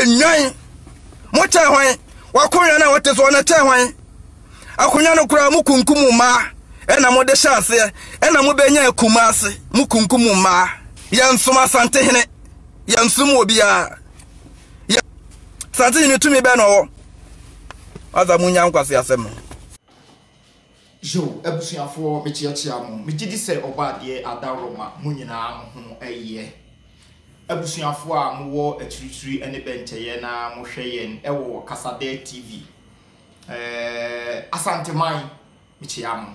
Nnwan, mokyɛn hwan? W'akonwa no a wote soɔ no kyɛn hwan? Akonwa no koraa mokunkum mmaa ɛna mode hyɛ aseɛ ɛna mobɛnya akumaa ase mokunkum mmaa. Yɛnsom Asantehene, yɛnsom obiara. Yɛ Asantehene tumi bɛn na ɔwɔ? Asa monya nkwaseasɛm no. Yow abusuafoɔ mekyeakyea mo, megye di sɛ ɔbɔadeɛ adaworo ma mo nyinaa mo ho yɛ. Abusuafoɔ a mowɔ akyirikyiri ne bɛnkyɛeɛ na mohwɛ yɛn wɔ Kasadɛɛ TV Asanteman, mekyea mo.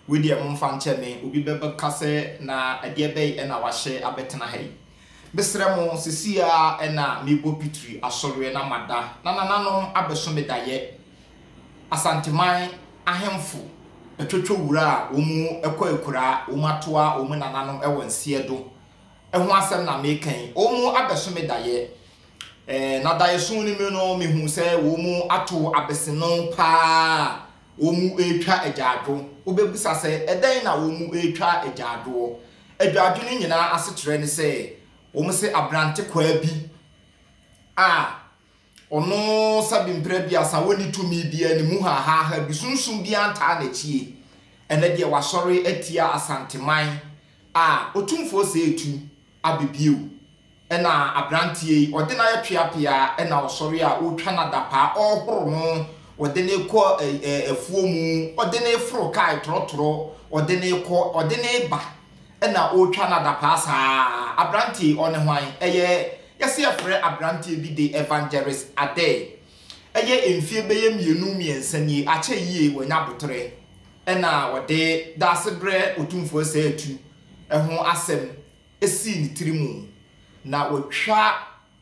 Wei deɛ momfa nkyɛ me, obi bɛka sɛ na ɛdeɛ bɛn na wahyɛ abɛtena ha yi. Mesrɛ mo, seesei ara na mebɔ pitiri asɔreɛ na mada na nananom abɛso me daeɛ. Asanteman ahemfo twotwo wura a wɔkɔ akuraa, wɔatoa wɔn nananom wɔ nseɛ do ho asɛm na meka yi. Wɔabɛso me daeɛ. Ɛɛ, na daeɛso no mu no, mehu sɛ wɔato abeseno pa ara a wɔretwa agyaadwo. Wobɛbisa sɛ, ɛdɛn na wɔretwa agyaadwoɔ? Agyaadwo no nyinaa asekyerɛ ne sɛ, wɔse aberantekwaa bi a Ɔno sa bi mprɛ aduasa, wɔnni tumi biaa ne mu hahaaha bi, sunsum biaa ntaa n'akyi e, ɛnɛ deɛ wasɔre atia Asanteman a Otumfoɔ sɛ etu abɛ bio, ɛna abranteɛ yi ɔde no ayɛ tweapea, ɛna ɔsɔre a ɔretwa no adapaa, ɔrehoro no, ɔde no rekɔ afuo mu, ɔde no reforo kaa trɔtrɔ, ɔde no rekɔ, ɔde no reba. na ɔretwa no adapaa saa. Aberanteɛ yi, ɔne hwan? Ɛyɛ, yɛse yɛfrɛ aberanteɛ bi de Evangelist Adair. Ɛyɛ mfeɛ bɛyɛ mmienu mmiɛnsa nie, akyɛ yie, wanya aboterɛ. Ɛna ɔde Daasebrɛ Otumfoɔ Saa Atu ho asɛm sii ne tiri mu, na watwa.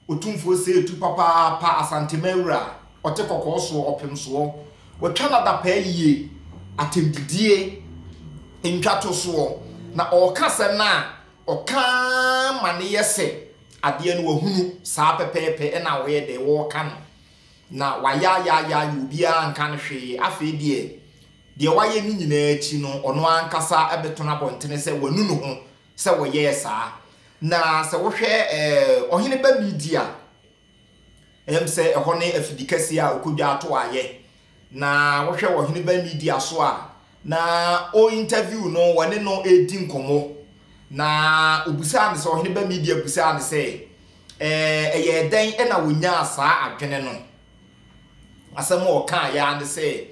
Otumfoɔ sɛɛ tu papaapa Asantema awura a ɔte kɔkɔɔ soɔ ɔpem soɔ Watwa n'adapaa yie Atɛmdidie ntwa to soɔ Na ɔɔka asɛm no a ɔka ma no yɛ sɛ adeɛ no wahunu Saa pɛpɛɛpɛ na ɔyɛ dɛ ɔɔka no Na wayaayaayaayaa obiara anka no hwee Afei deɛ deɛ wayɛ no nyinaa akyi no ɔno ankasa bɛtɔn abɔntene sɛ wanu ne ho sɛ wɔyɛɛ saa. Na sɛ wohwɛ ɛɛ ɔhene ba Midi a, ɛm sɛ ɛhɔ ne afidi kɛseɛ a ɔkɔdwa ato ayɛ. Na wohwɛ wɔ ɔhene ba Midi aso a, na ɔ interview no, wɔne no redi nkɔmmɔ. Na ɔbusaa no sɛ, ɔhene ba Midi abusaa no sɛ, ɛɛ ɛyɛɛ dɛn na wɔnyaa saa adwene no? Asɛm a ɔkaeɛ ara ne sɛ,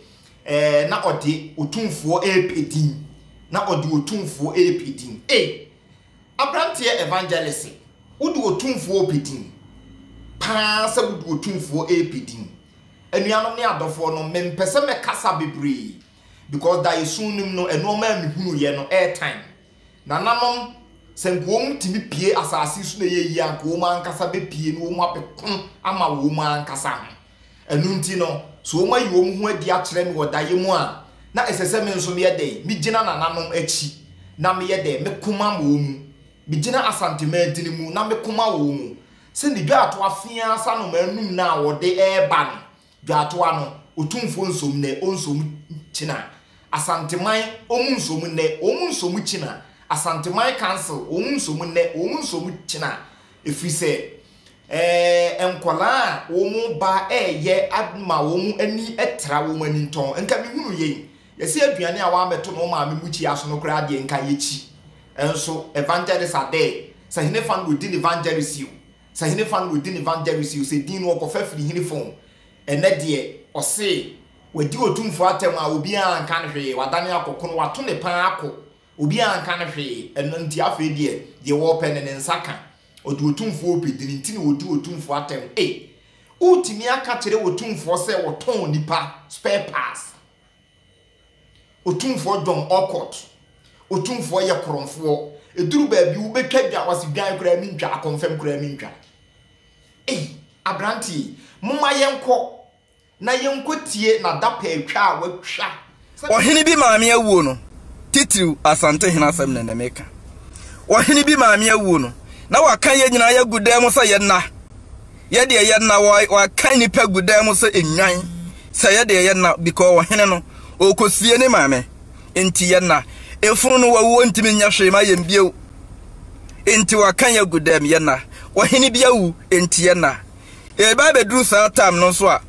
ɛɛ, na ɔde Otumfoɔ repɛ din. Na ɔde Otumfoɔ repɛ din. Ei! Aberanteɛ Evangelist, wode Otumfoɔ repɛ din paa sɛ wode Otumfoɔ repɛ din. Anuanom ne adɔfoɔ no, mempɛ sɛ mɛkasa bebree because daeɛsu no mu no, nnoɔma a mehunuiɛ no, airtime Nananom, sɛ nka wɔn tumi pue asase so na ɛyɛ yie a, nka wɔn ankasa bɛpue na wɔn abɛko ama wɔn ankasa ho. Ɛno nti no, sɛ wɔn ayi wɔn ho adi akyerɛ me wɔ daeɛ mu a, na ɛsɛ sɛ me nso meyɛ dɛn? Megyina nananom akyi na meyɛ dɛn? Meko ma wɔn mu. Megyina Asante mantini mu na meko ma wɔn mu. Sɛdeɛ dwa a ɛto afeaa sa nnomaa num no a wɔde reba no, Dwatoa no, Otumfoɔ nsom nnɛ, ɔnsom kyena. Asanteman, wɔn nsom nnɛ, wɔn nsom kyena. Asanteman Council, wɔn nsom nnɛ, wɔn nsom kyena. Ɛfiri sɛ, eh, nkwadaa a wɔn ba reyɛ ama wɔn ani tra wɔn ani ntɔn. Nka mehunu yei. Yɛse aduane a wɔabɛto no wo maame mukyia so no koraa deɛ nka yɛkyi. Nso, Evangelist Adair, sɛ henefa na ɔdi no Evangelist o, Sɛ hene fa no wɔ din evangelis o sɛ din no ɔkɔfa firi hene fa o ɛnɛ deɛ ɔse wadi otumfoɔ atɛm a obiara nka no hwee wadane akɔ kono wato ne paa ako obiara nka no hwee ɛno nti afei deɛ deɛ wɔpɛ no ne nsa ka ɔde otumfoɔ ɔpɛ din nti na ɔdi otumfoɔ atɛm ei wotumi aka kyerɛ otumfoɔ sɛ wɔtɔn nipa spare parts Otumfoɔ John Orcutt, Otumfoɔ yɛ korɔmfoɔ, ɛduru baabi wobɛtwa dwa, ɔse dwan koraa mentwa, akɔmfam koraa mentwa. Ei, aberanteɛ yi, momma yɛnkɔ na yɛnkɔtie n'adapɛatwa a watwa. Ɔhene bi maame awuo no, titiriw Asantehene asɛm na na meka. Ɔhene bi maame awuo no, na wɔaka yɛn nyinaa yɛagu dan mu sɛ yɛnna. yɛ deɛ yɛ na wɔaka nnipa gu dan mu sɛ nnwan sɛ yɛ deɛ yɛ na because ɔhene no ɔkɔsie ne maame nti yɛ na efunu no wɔwuo ntumi nyɛ hwee ma yɛn bio nti wɔaka yɛ agu dan mu yɛ na ɔhene bi awu nti yɛ na ɛba bɛduru saa tam no nso a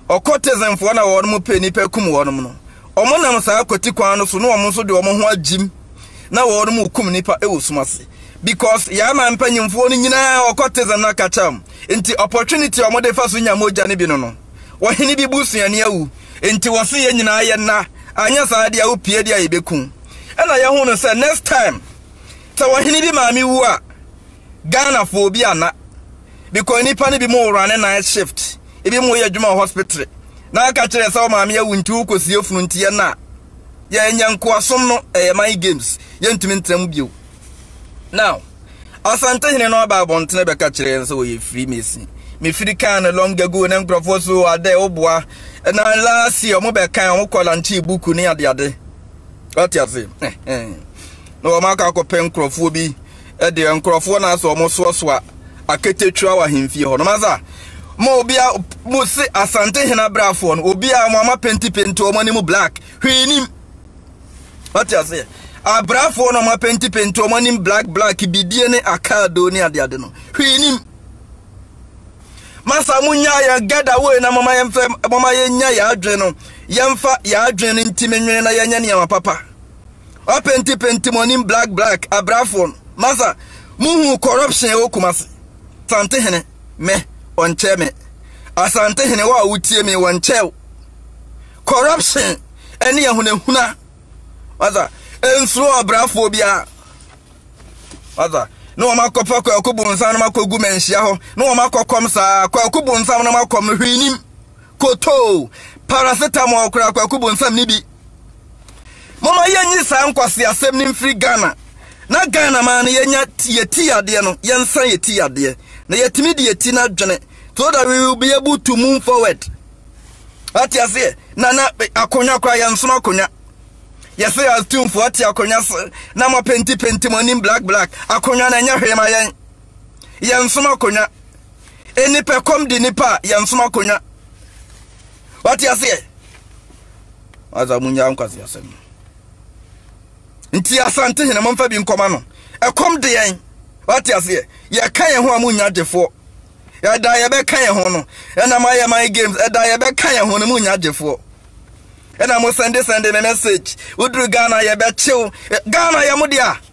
Occultismfoɔ no a wɔnom pɛ nnipa kum wɔnom no, wɔn nam saa kwati kwan no so na wɔn nso de wɔn ho agyim na wɔnom rekum nnipa wɔ sum ase. Because yɛn aman mpanyimfoɔ no nyinaa occultism no akakya wɔn, nti opportunity a wɔde fa so nya mogya no bi no no, ɔhene bi busuani awu, nti wɔse yɛn nyinaa yɛnna, anyɛ saa deɛ wopie deɛ a yɛbɛku wo. Ɛna yɛhu no sɛ next time, Sɛ ɔhene bi maame wu a, Ghana fo obi ana? Because nipa no bi mo wora ne night shift, ebi mo yɛ adwuma wɔ hospitre, na aka kyerɛ yɛ sɛ wo maame awu nti wo kɔ sie funu nti yɛ na yɛ nyɛ nkoasom no ɛyɛ mind games yɛ ntumi ntra mu bio. Now, Asante hene no aba abɔntene bɛka kyerɛ yɛn sɛ ɔyɛ free mason. Me free kan no long ago na nkurɔfoɔ so adɛ woboa. Na last year ɔmo bɛkan ɔmo kɔ lankyee buku ne adeade. Wate ase? na wɔn akɔ akɔpɛ nkurɔfoɔ bi deɛ nkurɔfoɔ na asɛ wɔn soasoa aketekyua wɔ ahemfie hɔ no masa ma obia mo se asante hena brafoɔ no obia mo ama penti penti wɔn anim black hwee nim wate aseɛ abrafoɔ no ɔma penti penti wɔn anim black black bidie ne akaadoo ne adeade no hwee nim masa mo nya yɛn gada wei na mama yɛmfa mama yɛnya yɛn adwene no yɛmfa yɛn adwene no ntimi nwene na yɛnyɛ nneɛma papa wapenti penti mo anim black black abrafoɔ no masa muhu corruption ɛwɔ kumase sante hene me ɔnkyɛ me asante hene wɔ a wotie me wɔnkyɛw corruption ɛne ahunahuna masa nsuro abrafoɔ biara masa ne wɔn akɔfa kwaku bonsam no akɔgu manhyia hɔ ne wɔn akɔkɔm saa kwaku bonsam no akɔm no hwee nim kotoo paracetamol koraa kwaku bonsam ne bi moma yɛnyi saa nkwase asɛm no mfiri ghana na ghana maa no yɛnya yɛ ti yadeɛ no yɛnsa yɛ ti yadeɛ na yɛtumi de yɛ ti no adwene so that we will be able to move forward ate aseɛ na na akonnwa koraa yɛnsono akonnwa yɛsɛ yɛ astumfoɔ ate akonnwa se na mapenti penti mo anim black black akonnwa na ɛnyɛ hwee ma yɛn yɛnsom akonnwa. Nipɛkɔm de nipa a yɛnsom akonnwa. Wate aseɛ? Asa mu nyaa nkwasi asɛm. Nti asante hene mo mfa bi nkɔma no. Ɛkɔm de yɛn. Wate aseɛ? Yɛka yɛn ho a mo nya gyefoɔ. Ɛda yɛbɛka yɛn ho no. Ɛna mo ayɛ my games. Ɛda yɛbɛka yɛn ho no mo nya gyefoɔ. Ɛna mo sɛnde sɛnde me message. Woduru Ghana yɛbɛkyew. Ghana yɛ mo dea.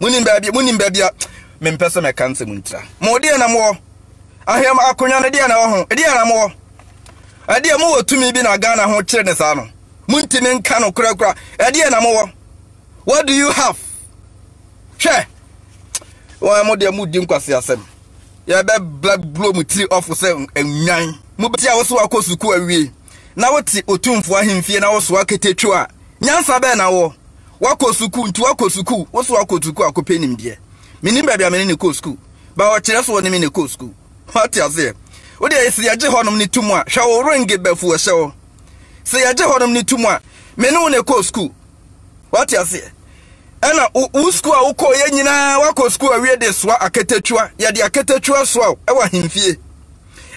Monim baabi, monim baabi a mempɛ sɛ mɛka nsɛm ntira. Mo deɛ na mowɔ. Ahwɛm akonnwa no deɛ na wɔ ho. Deɛ na mowɔ. Ɛdeɛ mowɔ tumi bi na Ghana ho kyerɛ ne saa no. Montimi nka no korakora. Ɛdeɛ na mowɔ. What do you have? Hwɛ. Wɔn mo deɛ modi nkwasi asɛm. Yɛbɛbla bulo mo tiri ɔfo sɛ nnwan. Mobɛti a wosoa kɔ sukuu awie na wote otumfoɔ ahemfie na wosoa ketetwe a Nyansa bɛn na wowɔ? Woakɔ sukuu nti woakɔ sukuu, wo so woakɔ sukuu akɔpɛ nimdeɛ. Mennim baabi a me ne no kɔɔ sukuu, but ɔkyerɛ sɛ ɔne me na ɛkɔɔ sukuu. Woate aseɛ? Wo deɛ sɛ yɛgye hɔnom no tom a, hwɛ wo ringe bɛfu wɔ hyɛ wo. Sɛ yɛgye hɔnom no tom a, me ne wo na ɛkɔɔ sukuu. Woate aseɛ? Ɛna wo sukuu a wokɔɔ yɛ nyinaa, woakɔ sukuu awie de soa akatakyiwa, yɛde akatakyiwa soa wo ɛwɔ ahemfie.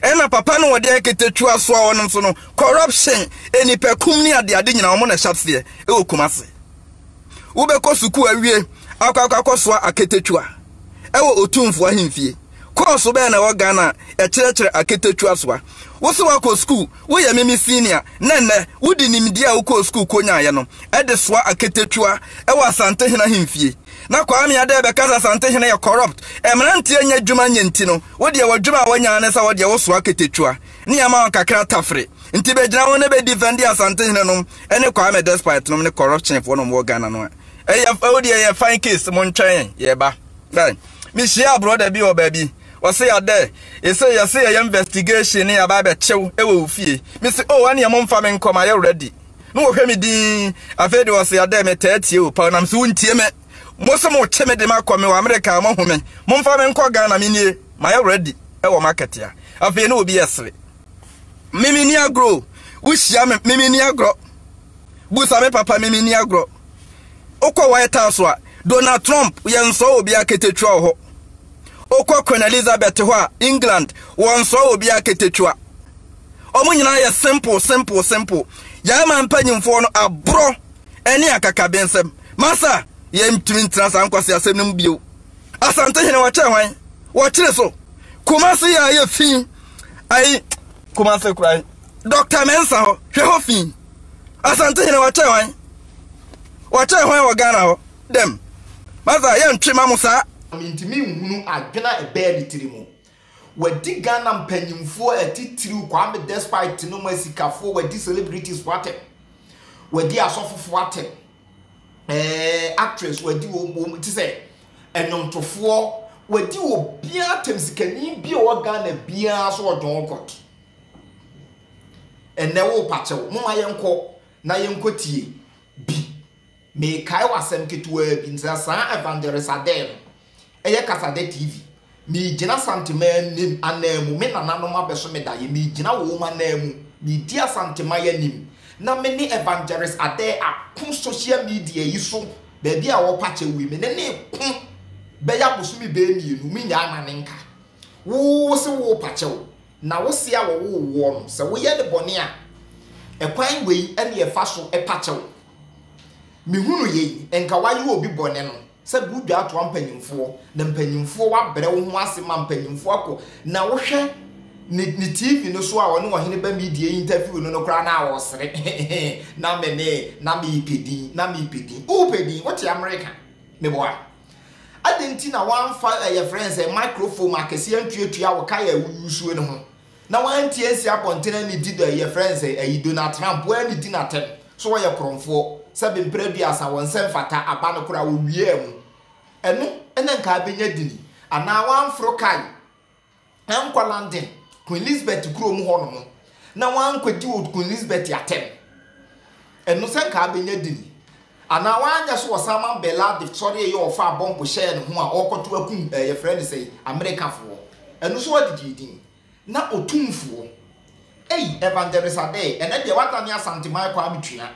ɛna papa no wɔde nketetua soa wɔn nso no corruption enipakum ne adeade nyinaa wɔn na ɛhyɛ aseɛ ɛwɔ Kumasi wobɛkɔ sukuu awie akɔ akɔ akɔsoa aketetua ɛwɔ otumfoɔ ahemfie kɔɔso bɛyɛ na ɛwɔ Ghana a ɛkyerɛkyerɛ aketetua soa wo sɛ wakɔ sukuu woyɛ mimi senior na nnɛ wode nimdeɛ a wokɔɔ sukuu kɔnyaeɛ no ɛde soa aketetua ɛwɔ Asantehene ahemfie na Kwame ada ɛbɛka sɛ Asantehene yɛ corrupt, mmeranteɛ nyɛ adwuma nyɛ nti no, wodeɛ w'adwuma a woanya ne sɛ wodeɛ wosoa ketetua ne yɛma wɔn kakra tafere, nti bɛgyina ho na bɛ defendi Asantehene nom ne Kwame despite nom ne corruption foɔ nom wɔ Ghana no a. Ɛyɛ wodeɛ yɛ fine case mo ntwɛn yɛn yɛba. Right. Mehyia brɔda bi wɔ baabi ɔse adɛ ɛsɛ yɛse yɛyɛ investigation ne yɛaba bɛkyew ɛwɔ wo fie mese oh ɛneɛ momfa me nkɔ mayɛ ready Na ɔhwɛ me dinn. Afei de ɔse, Adɛn, metaa tie wo paa, nanso wontie me. Mo se mokye me de me akɔ, mewɔ Amerika a, moahu me. Momfa me nkɔ Ghana, me nie, mayɛ ready wɔ market a. Afei na obi ɛsere. Me menni agorɔ o. Wohyia me, me menni agorɔ. Busa me papa, me menni agorɔ. Wokɔ White House a, Donald Trump, yɛnsɔɔ obiara ketekyua wɔ hɔ. Wokɔ Queen Elizabeth hɔ a, England, wɔnsɔɔ obiara ketekyua. Ɔmo nyinaa yɛ simple simple simple. Yɛn man mpanyinfoɔ no aborɔ ɛne akakabensɛm. Masa, yɛn ntumi ntena saa nkwaseasɛm no mu bio. Asantehene wɔkyɛɛ hwan? Wɔkyere so. Kumasi yɛ ayɛ fi. Ayi, Kumasi kura yi. Dr. Mensa hɔ, hwɛ hɔ fi. Asantehene wɔkyɛɛ hwan? Wɔkyɛɛ hwan wɔ Ghana hɔ? Dɛm. Masa, yɛntwe ma mo saa. Mintumi nhunu adwene a ɛbaa ne tiri mu. Wadi Ghana mpanyimfoɔ atitiriw Kwame Despite tinom asikafoɔ wadi celebrities foɔ atɛm wadi asɔfofoɔ atɛm ɛɛ actress wadi wɔn wɔn ti sɛ ɛnwomtofoɔ wadi obiara atɛm sikani bi a ɔwɔ Ghana biara so ɔdɔn kɔt ɛnɛ wo pakyɛw mo ma yɛn kɔ na yɛn kɔ tie bi mekae wɔ asɛm ketewaa bi nti na saa evangelist adɛɛ no Ɛyɛ Kasadɛ TV. Megyina Asantema anim ananmu, me nananom abɛso me daeɛ, megyina wɔn ananmu, medi Asantema yi anim, na me ne Evangelist Adeh ako social media yi so, baabi a ɔpa kyɛw yi, me ne no reko bɛyɛ abosome bɛyɛ mmienu, mennyaa no anenka. Wo, wo se wo repa kyɛw, na wo se a wɔwoo woɔ no, sɛ woyɛ no bɔne a, ɛkwan wei ɛne ɛfa so pa kyɛw. Mehunu yei, nka woayɛ obi bɔne no, Sɛ bu dwa toa mpanyimfoɔ na mpanyimfoɔ wabrɛ wo ho ase ma mpanyimfoɔ akɔ na wohwɛ ne ne TV no so a ɔne ɔhene ba media interview no no koraa na ɔresere na me ne na mepɛ din na mepɛ din wopɛ din wote Amerika meboa adɛn nti na wɔamfa ɛyɛ frɛ sɛ microphone akɛseɛ ntuatua wo kae a woyusuo no ho Na wanti ansi abɔnten anidi dɔ yi yɛfrɛ no sɛ ayi Donald Trump w'anidi no atɛm so wɔyɛ korɔmfoɔ sɛ be mprɛ aduasa wɔn sɛ mfata aba no koraa wɔwiaa mu ɛno na nka abɛnya dini anaa w'anforo kae ankɔ London Queen Elizabeth kuro mu hɔ nom na w'ankɔdi wɔ Queen Elizabeth atɛm ɛno sɛ nka abɛnya dini Anaa wanyɛ so Osama bin Laden sɔree yɛ ɔfaa bɔmb hyɛɛ ne ho a ɔɔkɔto akum ɛɛ yɛfrɛ no sɛi Amerikafoɔ. Ɛno nso ɔde gyee din. Na otumfoɔ. Ei Evangelist Adei ɛnɛ deɛ wadane Asanteman Kwame Tua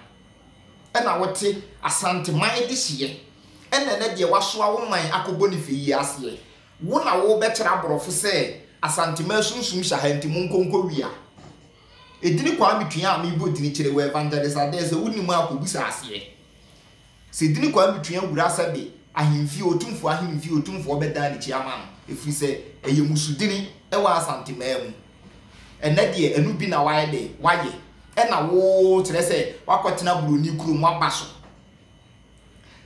ɛna wote Asanteman dehyeɛ ɛna ɛnɛ deɛ wasoa wo man akɔ Boniface yi aseɛ wo na wobɛkyerɛ aborɔfo sɛ Asanteman sunsum hyɛ ha nti monko nkɔ wia. Edin Kwame Twia a mebɔ dzin kyerɛ wo Evangelist Adeh sɛ wo nim a kɔ bisa aseɛ. Sɛ dzin Kwame Twia wura Asɛbe Ahemfie Otumfoɔ Ahemfie Otumfoɔ bɛdan n'akyi ama no ɛfiri sɛ ɛyɛ mmusudini wɔ Asante mmaa mu. Ɛnnɛ deɛ ɛno bi na wayɛ dɛn? Wayɛ. Ɛna wo kyerɛ sɛ wakɔtena buroni kurom waba so.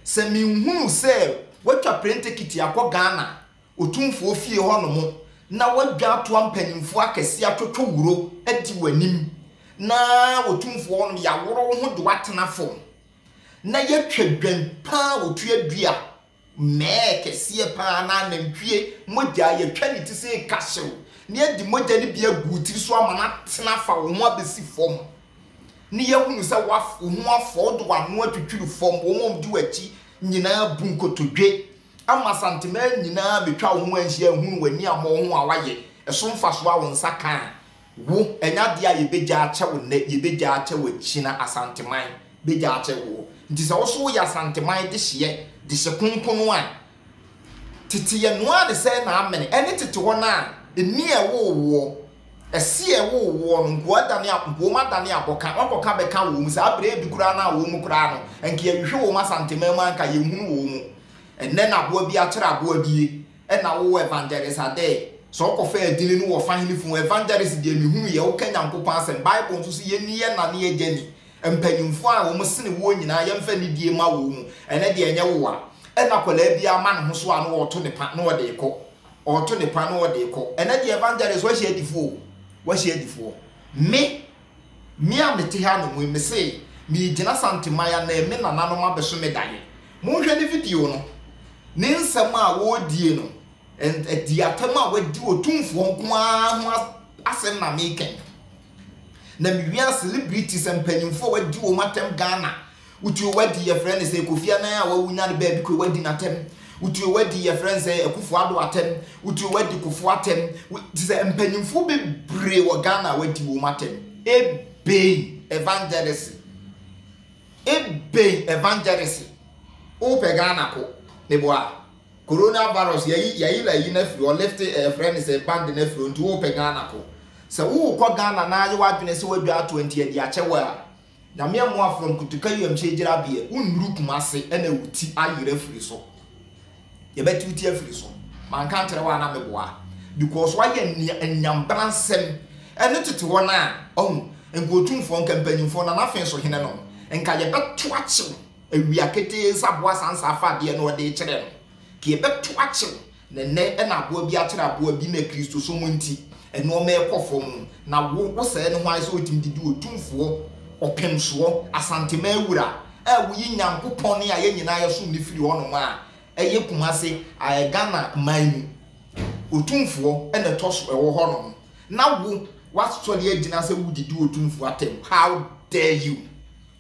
Sɛ menhunu sɛ watwa plane tekiti akɔ Ghana Otumfoɔ fie hɔnom na wɔadwaatoa mpanimfoɔ akɛseɛ atwotwo wuro adi w'anim, na Otumfoɔ hɔnom yɛaworo wo ho de wo atena fam, na yɛatwa dwan pa a wɔtua dua, mmɛɛ kɛseɛ pa ara anaa nantwie mogya a yɛatwa ne ti sɛ ɛka hyew, na yɛde mogya no bi agu wo tiri so ama no atene afa wo ho abɛsi fam, na yɛahunu sɛ wo ho afɔ, wode w'ano atwitwiri fam, wɔn a wɔdi w'akyi nyinaa bu nkotodwe, Ama Asanteman nyinaa betwa wo ho anhyia ahunu w'ani a mmɔho a woayɛ, ɛso mfasoɔ a wo nsa ka a, wo, ɛnyɛ adeɛ a yɛbɛgya akyɛ wo nnɛ, yɛbɛgya akyɛ wo akyina, Asanteman, bɛgya akyɛ woɔ. Nti sɛ wo so woyɛ Asanteman dehyeɛ, dehye konkono a, tete yɛ noaa ne sɛɛ na amene, ɛne tete hɔ no a, nni a ɛwoo woɔ, Ɛseɛ a ɛwowɔ woɔ no, nkoa adane a, nkoa mu adane abɔka, woakɔka abɛka wɔ mu, saa berɛ bi koraa no a wɔ mu koraa no, anka yɛhwehwɛ wɔ mu Asanteman mu a anka yɛnhunu wɔ mu. Ɛnnɛ na aboa bi akyerɛ aboa bi yie, ɛna wowɔ Evangelist Adei, sɛ wokɔfa adini no wɔ Fahene fie, Evangelist deɛ mehunu yɛ, woka Nyankopɔn asɛm, Bible nso se yɛnni yɛn na ne yɛn agya ni, mpanyimfoɔ a wɔ mu sene woɔ nyinaa yɛmfa anidie mma wɔ mu, ɛnnɛ deɛ ɛnyɛ woa, ɛna akwadaa biara ma ne ho so a na ɔreto ne pa na ɔde rekɔ. ɔɔto ne pa na ɔde rekɔ. Ɛnɛ deɛ evangelist wahyia adifoɔ o, wahyia adifoɔ. Me, me a mete ha nom yi, mese meegyina Santeman ha na me nananom abɛso me daeɛ. Monhwɛ ne video no, ne nsɛm a ɔredie no, ɛn, ɛdi atam a wadi otumfoɔ nko ara ho asɛm na meeka yi. Na me wia celebrities mpanyinfoɔ a wadi wɔn atɛm Ghana wotuo wadi yɛfrɛ ne sɛ Kofi Anan a wawu nya ne baabi kɔ wadi n'atɛm wotuo wadi yɛfrɛ ne sɛ Akufo Ado atɛm wotuo wadi Kofo atɛm te sɛ mpanyinfoɔ bebree wɔ Ghana a wadi wɔn atɛm ebɛn evangelist ebɛn evangelist wopɛ Ghana ko meboa Corona virus yɛyi yɛyela yi no afiri hɔ lift ɛɛ frɛ no sɛ band no afiri hɔ nti wopɛ Ghana kɔ sɛ worekɔ Ghana na ayɛ w'adwene sɛ wadwa atoa nti ɛde akyɛ wo a Nyame ɛmoa from Kotoka wiemhyɛn gyinabeɛ wonnuru Kumase ɛna wo ti ayera afiri so yɛbɛte wo ti afiri so manka nkyerɛ wo a na meboa because wayɛ nea anyambra nsɛm ɛno tete hɔ no a ɔhu nka otumfoɔ nka mpanyimfoɔ na n'afenso hene nom nka yɛbɛto akye wo. Awia ketee nsa aboa saa nsa afa adeɛ na ɔde rekyerɛ no, ka ɛbɛto akyew, na ɛnnɛ na aboa bi akyerɛ aboa bi na Kristosom nti nnoɔma rekɔ fam, na wo wo sɛɛ ne ho ayɛ sɛ wotumi de di Otumfoɔ, Ɔpemsoɔ, Asanteman Wura a woyi Nyankopɔn a yɛn nyinaa yɛsom no firi hɔnom a ɛyɛ Kumasi aɛ Ghana man mu Otumfoɔ na ɛtɔ so ɛwɔ hɔnom na wo woasɔre agyina sɛ wode di Otumfoɔ atɛm, how dare you!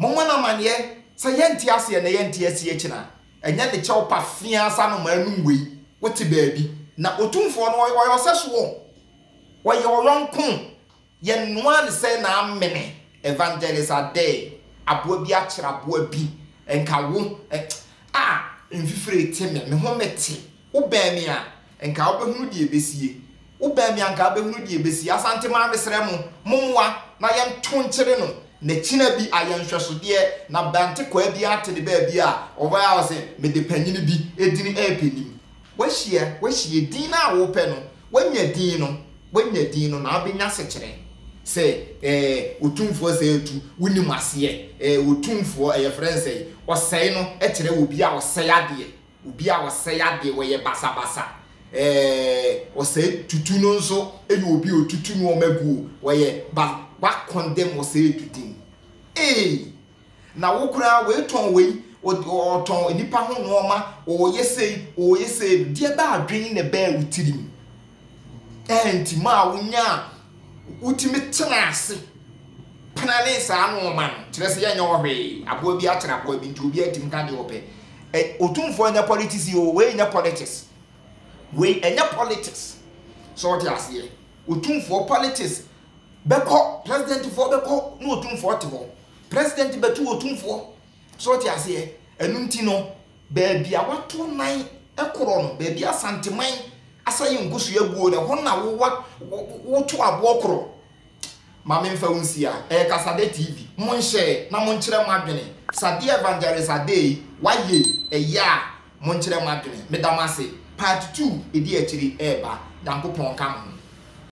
Mommɔ no amanneɛ sɛ yɛnte ase ɛnnɛ, yɛnte ase akyiri a, ɛnyɛ ne kyɛw pafeaa saa anomaa anum wei, wote baabi. Na Otumfoɔ no, ɔyɛ ɔsɛsoɔ, ɔyɛ ɔyɔnko, yɛnoaa no sɛ na amene, Evangelist Adei, aboa bi akyere aboa bi, nka wo, eh, ah, mfifire te me, me ho mete, Wo bɛn me a, nka wo bɛhunu deɛ ɛbɛsie. Wo bɛn me a, nka wo bɛhunu deɛ ɛbɛsie. Asantemaa mesrɛ mo, mommoa na yɛnto nkyere no n'akyina bi ayɛ nhwɛsodeɛ na Bɛntekwaa bi ate ne baabi a ɔbɛyɛ a ɔse, mede panyini bi edini ɛɛpɛ nim. Wahyia, wahyia din no a wopɛ no, wanya din no, wanya din no na wobɛnya sekyerɛ sɛ ɛɛ Otumfoɔ sɛe atu, wonim aseɛ, ɛɛ Otumfoɔ, ɛyɛ frɛ no sɛe, ɔsɛe no kyerɛ obi a ɔsɛe adeɛ. Obi a ɔsɛe adeɛ, ɔyɛ basabasa. Eh, ɔsɛe tutu no nso yɛ obi a ɔtutu nnoɔma gu o, ɔyɛ ba, woakɔndɛm ɔsɛe tutu no. Ei! Na wo koraa woetɔn wei, ɔtɔn nnipa ho nnoɔma, ɔyɛ sei, ɔyɛ sei, deɛ ɛba adwene na ɛbaa wo tirim. Enti maa wonyaa, wotumi tenaa ase penanee saa nnoɔma no. Kyerɛ sɛ yɛnyɛ hɔ hwee. Aboa bi akyere aboa bi nti obiara tumi ka deɛ ɔpɛ. Ɛ, otumfoɔ nyɛ politics yi o, wei nyɛ politics. Wei, ɛnyɛ politics. So wote aseɛ? Otumfoɔ politics bɛkɔ, presidentfoɔ bɛkɔ na otumfoɔ te hɔ. President bɛtu otumfoɔ. So wote aseɛ? Ɛno nti no, Baabi a wɔato nan korɔ no, baabi a Asanteman asa yɛ nkosua aguo no, ɛhɔ na wowa, wo, woto aboɔ korɔ. Ma memfa wo nsi a, ɛyɛ Kasadɛ TV. Monhyɛ na monkyerɛ moadwene. Sadeɛ Evangelist Adei, woayɛ yi, ɛyɛ a monkyerɛ moadwene. Meda mo ase. Part two, ɛdi akyiri reba. Nyankopɔn nka mo ho.